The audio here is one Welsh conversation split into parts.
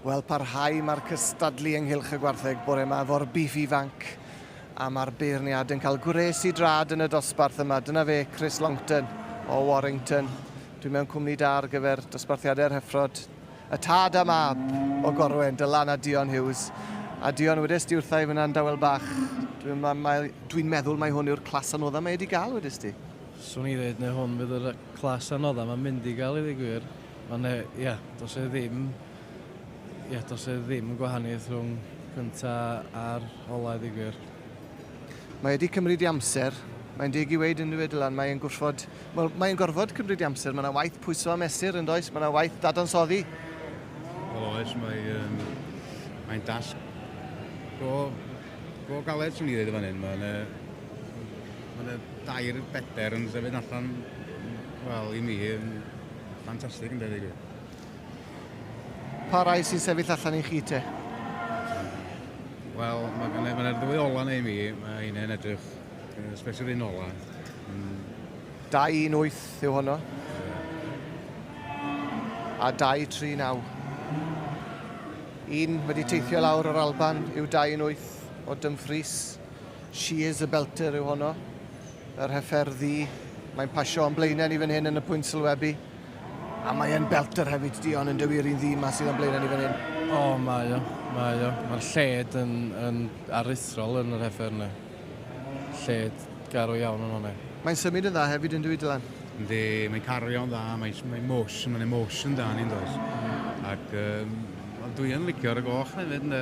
Wel, parhau mae'r cystadlu ynghylch y gwartheg bore yma efo'r bif ifanc a mae'r beirniad yn cael gwres i drad yn y dosbarth yma. Dyna fe, Chris Longton o Warrington. Dwi'n mewn cwmni da ar gyfer dosbarthiadau'r hyffrod. A tad a mab o Gorwen, Dylan a Dion Hughes. A Dion, wedest ti wrtha i fynna yn dawel bach, dwi'n ma, ma, dwi meddwl mai hwn yw'r clas anodda mae wedi gael, wedest ti? Swn i ddeud neu hwn fydd yr clas anodda mae'n mynd i gael i ddweud gwir. Mae ne, ia, dos e ddim, ia, dos e ddim gwahaniaeth rhwng cynta a'r ola i ddweud gwir. Mae wedi cymryd i amser. Mae'n deg i weid yn dyw e Dylan, mae'n gwrthfod Wel, mae'n gorfod cymryd i amser. Mae yna waith pwyso a mesur yn does, mae yna waith dadansoddi. Wel oes, mae'n um, mae dasg go, go galed sy'n ni ddweud y fan hyn. Mae'n ma yna dair bedair yn sefyd allan, wel, i mi, yn ffantastig yn debyg. Pa rai sy'n sefyll allan i chi te? Wel, mae yna ddwy ola neu mi, mae hynny'n edrych Especially yn ola. Mm. 218 yw honno. A 239. Un wedi teithio lawr o'r Alban yw 218 o Dumfries. She is a belter yw honno. Yr heffer ddi. Mae'n pasio o'n blaenau ni fan hyn yn y pwynt sylwebu. A mae'n belter hefyd, Dion, yn dywir i'n ddi ma sydd o'n blaenau ni fan hyn. O, mae o, mae o. Mae'r lled yn, yn aruthrol yn yr heffer yna. Lled garw iawn yn one. Mae'n symud yn dda hefyd yndw i Dylan? Yndi, mae'n cario'n dda, mae'n mae motion, mae'n emotion da ni yndoes. Mm. Ac um, ond dwi yn licio ar y goch na hefyd ynde.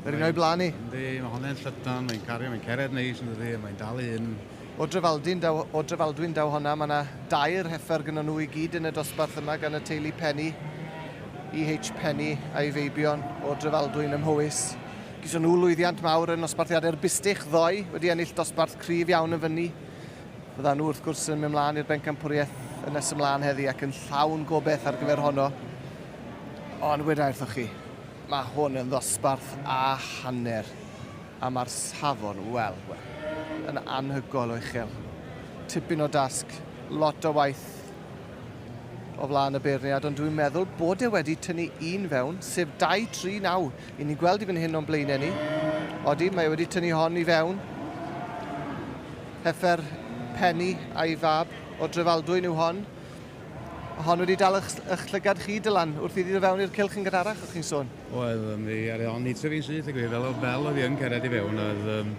Yr un o'i blaen ni. Yndi, mae honna'n llydan, mae'n cario, mae'n cered neis yn dydi, mae'n dal i hyn. O Drefaldwyn daw, o Drefaldwyn daw honna, mae yna dair heffer gyda nhw i gyd yn y dosbarth yma gan y teulu Penny, EH Penny a'i feibion o Drefaldwyn ym Mhowys. Geison nhw lwyddiant mawr yn nosbarthiadau'r Bistych ddoe, wedi ennill dosbarth cryf iawn yn fyny. Byddan nhw wrth gwrs yn mynd mlaen i'r bencampwriaeth yn nes ymlaen heddi ac yn llawn gobeith ar gyfer honno. Ond weda wrthoch chi, mae hwn yn ddosbarth a hanner a mae'r safon, wel, wel, yn anhygoel o uchel. Tipyn o dasg, lot o waith o flaen y beirniad, ond dwi'n meddwl bod e wedi tynnu un fewn, sef 2-3 naw Y'n ni'n gweld i fan hyn o'n blaenau ni. Odi, mae e wedi tynnu hon i fewn. Heffer Penny a'i fab o Drefaldwyn yw hon. Hon wedi dal eich, eich llygad chi, Dylan, wrth iddi ddod fewn i'r cylch yn gynharach, o'ch chi'n sôn? Oedd, ond i ar o'n eitha fi'n syth, gwir, fel o bel oedd i'n cered i fewn, oedd, um,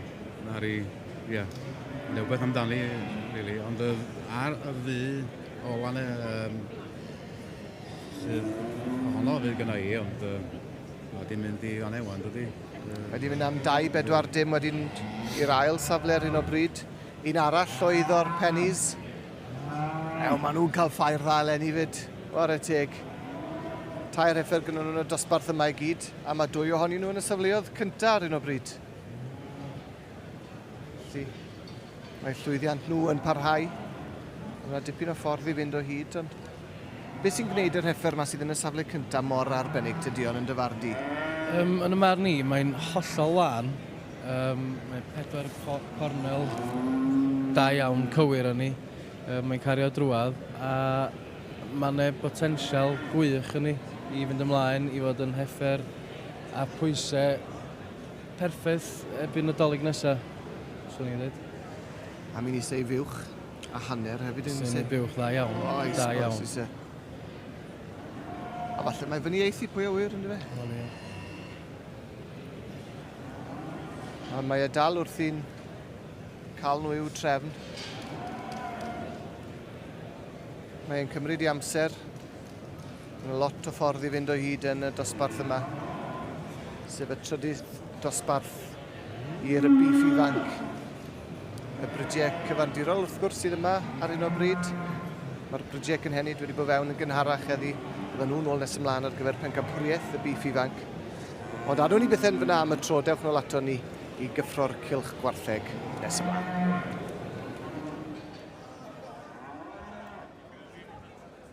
ar i, ie, yeah, rhywbeth amdani, really, ond oedd ar y ddu ola na, um, Sydd ohono fydd gyda i, ond uh, mae wedi mynd i fan ewan, dydy. Uh, wedi mynd am 2-4 dim wedyn i'r ail safle ar un o bryd. Un arall oedd o'r Pennies. Ew, maen nhw'n cael ffair dda eleni fyd. Ware teg. Tair heffer gyda nhw'n y dosbarth yma i gyd, a mae dwy ohonyn nhw yn y safleoedd cyntaf ar un o bryd. Felly, mae llwyddiant nhw yn parhau. Mae dipyn o ffordd i fynd o hyd, ond beth sy'n gwneud yr heffer yma sydd yn y safle cyntaf mor arbennig tydi o'n yn dyfarn di? Um, yn y marn ni, mae'n hollol wan. Um, mae pedwar co cornel da iawn cywir yn ni. Um, mae'n cario drwad a mae yna botensial gwych yn ni i fynd ymlaen i fod yn heffer a pwysau Perffaith erbyn Nadolig nesa, swn i'n dweud. A mi'n eisiau fuwch a hanner hefyd yn eisiau. Sy'n buwch dda iawn. O, oes, da iawn. Oes, oes, A falle mae fyny eithi pwy o wir, ynddo fe? Wel, ie. A mae e dal wrthi'n cael nhw i'w trefn. Mae'n cymryd i amser Mae lot o ffordd i fynd o hyd yn y dosbarth yma, sef y trydydd dosbarth i rygbi ifanc. Y brydiau cyfandirol wrth gwrs sydd yma ar hyn o bryd. Mae'r brydiau cynhenid wedi bod fewn yn gynharach heddi. Byddwn nhw'n ôl nes ymlaen ar gyfer pencampwriaeth y bif ifanc. Ond adwn ni byth yn fyna am y tro, dewch nôl ato ni i gyffro'r cilch gwartheg nes ymlaen.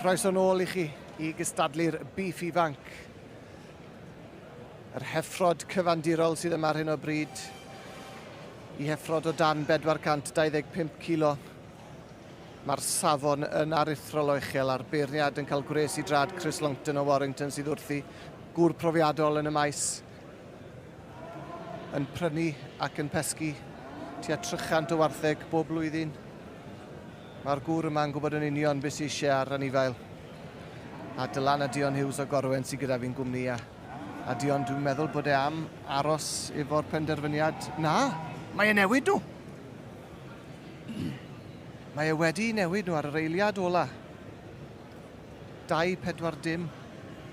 Croeso nôl i chi i gystadlu'r Beef Ifanc. Yr heffrod cyfandirol sydd yma ar hyn o bryd i heffrod o dan 425 kilo. Mae'r safon yn aruthrol o uchel a'r beirniad yn cael gwres i drad Chris Longton o Warrington sydd wrthi, gŵr profiadol yn y maes, yn prynu ac yn pesgu tua 300 o wartheg bob blwyddyn. Mae'r gŵr yma'n gwybod yn union beth sydd eisiau ar anifail. A Dylan a Dion Hughes o Gorwen sydd gyda fi'n gwmni a, a Dion dwi'n meddwl bod e am aros efo'r penderfyniad na, mae e newid nhw! Mae e wedi newid nhw ar yr eiliad ola. 2-4 dim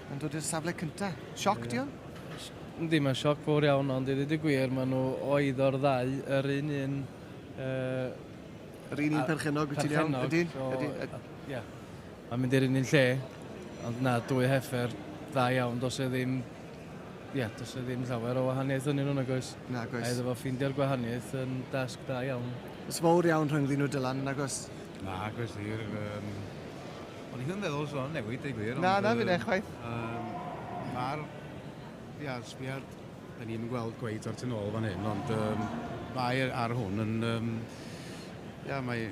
yn dod i'r safle cyntaf. Sioc, Dion? Ddim yn sioc fawr iawn, ond i ddweud y gwir, maen nhw oedd o'r ddau yr un un uh, Yr un un perchennog, wyt ti'n iawn? Perchennog, so... Ydy, ydy. Ie. Mae'n mynd i'r un un lle, ond na, dwy heffer dda iawn, dos e ddim... Ie, dos e ddim llawer o wahaniaeth yn nhw'n agos. Na, agos. A iddo fo ffindio'r gwahaniaeth yn dasg da iawn. Ys fawr iawn rhwng ddyn nhw Dylan, yn agos? Na, agos i'r... Um... Ond i ddim feddwl sôn newid, ei gwir. Na, na, fi'n eich chwaith. Um, Mae'r... Ie, sbiad Da ni'm yn gweld cweit o'r tu nôl fan hyn, ond um, mae ar hwn yn... Um, ia, mae,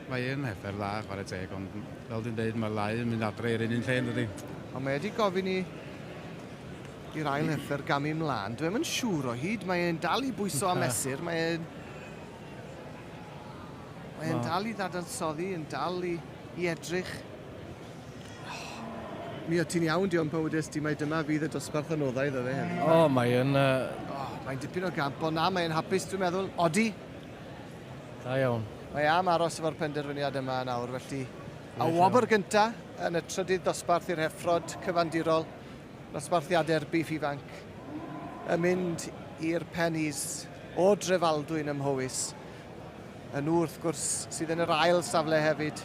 mae yn heffer dda, chwarae teg, ond fel dwi'n dweud, mae'r lau yn mynd adre i'r un un lle, dydy. Ond mae wedi gofyn i i'r ail heffer gamu mlaen. Dwi'n mynd siŵr o hyd, mae e'n dal i bwyso a mesur, mae e'n... Mae e'n dal i ddadansoddi, yn dal i, i edrych Oh, mi o ti'n iawn, diolch pan wedes ti mae dyma fydd y dosbarth anoddau iddo fe heddi. O, oh, mae yn... Uh... Oh, mae'n dipyn o gamp, ond na, mae'n hapus, dwi'n meddwl. Odi? Da iawn. Mae am aros efo'r penderfyniad yma yn awr, felly... A wobr gynta yn y trydydd dosbarth i'r heffrod cyfandirol, dosbarthiadau'r bif ifanc, yn mynd i'r pennies o drefaldwyn ym Mhowys. Yn nhw, wrth gwrs, sydd yn yr ail safle hefyd.